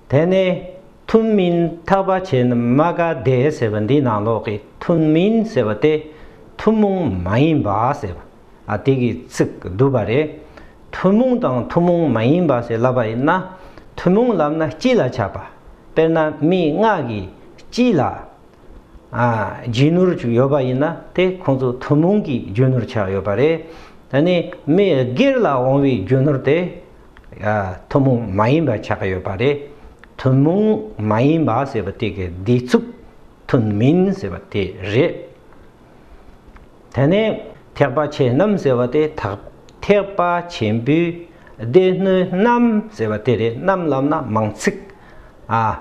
དེ་ནས་ཐུན་མིན་ཐར་པ་ཆེན་རྨ་ཀ་སྡེ་ཟེར་བ་འདི་ནང་ལོགས་ཀྱི་ཐུན་མིན་ཟེར་བ་སྟེ་ཐུན་མོང་མ་ཡིན་པ་ཟེར་བ་ཨ་དེ་གི་ཚིག་བསྡུས་པ་རེད། ཐུན་མོང་དང་ཐུན་མོང་མ་ཡིན་པ་ཞེས་བསླབ་པ་ཡིན་ན་ཐུན་མོང་ལབ་ན་སྤྱི་ལ་ཆགས་པ་དཔེར་ན་མི་ལྔ་གི་སྤྱི་ལ་རྒྱུད་ནོར་བཅུ་ཡོད་པ་ཡིན་ན་དེ་ཁོང་ཚོ་ཐུན་མོང་གི་རྒྱུད་ནོར་ཆགས་ཡོད་པ་རེད། ད་ནི་མི་སྒེར་ལ་འོང་བའི་རྒྱུད་ནོར་དེ་ཐུན་མོང་མ་ཡིན་པ་ཆགས་ཡོད་པ་རེད། ཐུན་མོང་མ་ཡིན་པ་ཟེར་བ་དེ་གའི་བསྡུས་ཚུགས་ཐུན་མིན་ཟེར་བ་དེ་རེད། དེ་ནས་ཐེག་པ་ཆེན་རྣམས་ཟེར་བ་དེ་དག་ཐེག་པ་ཆེན་པོའི་སྡེ་སྣོད་རྣམས་ཟེར་བ་དེ་རེད་རྣམས་ལབ་ན་མང་ཚིག་ཨ།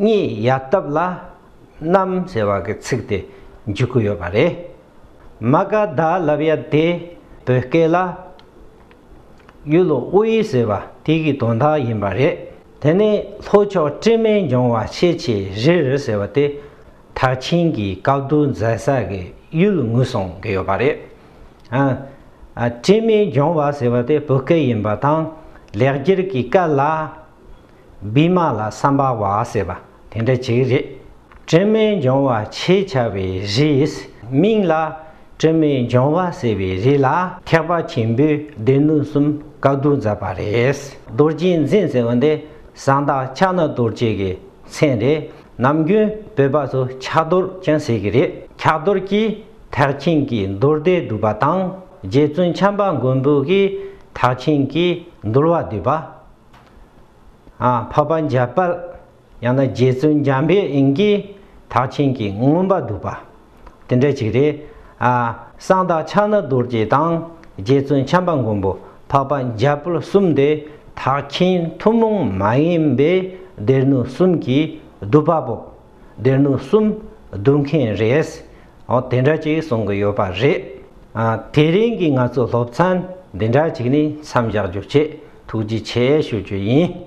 གཉིས་ཡལ་སྟབས་ལ་རྣམས་ཟེར་བ་གི་ཚིག་དེ་འཇུག་གི་ཡོད་པ་རེད། མ་ག་དྷཱ་ལབ་ཡ་དེ་བོད་སྐད་ལ། གཡུ་ལོ་དབུ་དབྱི་ཟེར་བ་དེ་གི་དོན་དག་ཡིན་པ་རེད། དེ་ནས་ལྷོ་ཕྱོགས་སྤྲེལ་མེ་འབྱུང་བ་ཤེས་ཆེ་རི་རི་ཟེར་བ་དེ་དག་ཆིན་གྱི་བཀའ་བསྡུ་མཛད་ས་གི་གཡུལ་ངོས་སོང་གི་ཡོད་པ་རེད། ཨ། སྤྲེལ་མེ་འབྱུང་བ་ཟེར་བ་དེ་བོད་སྐད་ཡིན་པ་དང་ལེགས་སྒྱུར་གྱི་སྐད་ལ། བི་མ་ལ་སམ་བ་བ་ཟེར་བ་དེ་འདྲ་ཅིག་རེད། སྤྲིན་མེད་འབྱུང་བ་ཞེས་བྱ་བའི་རིས་མིང་ལ་སྤྲིན་མེད་འབྱུང་བ་ཟེར་བའི་རིས་ལ་ཐེག་པ་ཆེན་པོའི་སྡེ་སྣོད་གསུམ་བཀའ་བསྡུ་མཛད་པ་རེད། རྡོ་རྗེ་འཛིན་ཟེར་བ་འདི་གསང་བདག་ཕྱག་ན་རྡོ་རྗེ་གི་མཚན་རེད། ནམ་རྒྱུན་བོད་པ་ཚོ་ཕྱག་རྡོར་ཀྱང་ཟེར་གི་རེད། ཕྱག་རྡོར་གྱིས་ཐེག་ཆེན་གྱི་མདོར་བསྡུས་བསྡུས་པ་དང་རྗེ་བཙུན་བྱམས་པ་མགོན་པོ་གིས་ཐེག་ཆེན་གྱི་འདུལ་བ་བསྡུས་པ། འཕགས་པ་འཇའ་དཔལ་ཡང་ན་རྗེ་བཙུན་འཇམ་པའི་དབྱིངས་ཀྱིས་དག་ཆེན་གྱི་མངོན་པར་བསྡུས་པ། དེ་འདྲ་ཞིག་རེད། གསང་བདག་ཕྱག་ན་རྡོ་རྗེ་དང་རྗེ་བཙུན་བྱམས་པ་མགོན་པོ་འཕགས་པ་འཇའ་དཔལ་གསུམ་དེ་དག་ཆེན་ཐུན་མོང་མ་ཡིན་པའི་སྡེ་སྣོད་གསུམ་གྱིས་བསྡུས་པ་པོ། སྡེར་ནུབ་གསུམ་བསྡུ་མཁན་རེད། འོ་དེ་འདྲ་ཅིག་གསུང་གི་ཡོད་པ་རེད། དེ་རིང་གི་ང་ཚོའི་སློབ་ཚན་འདི་འདྲ་ཅིག་ནི་མཚམས་བཞག་རྒྱུ་ཆེད་ཐུགས་རྗེ་ཆེ་ཞུ་རྒྱུ་ཡིན།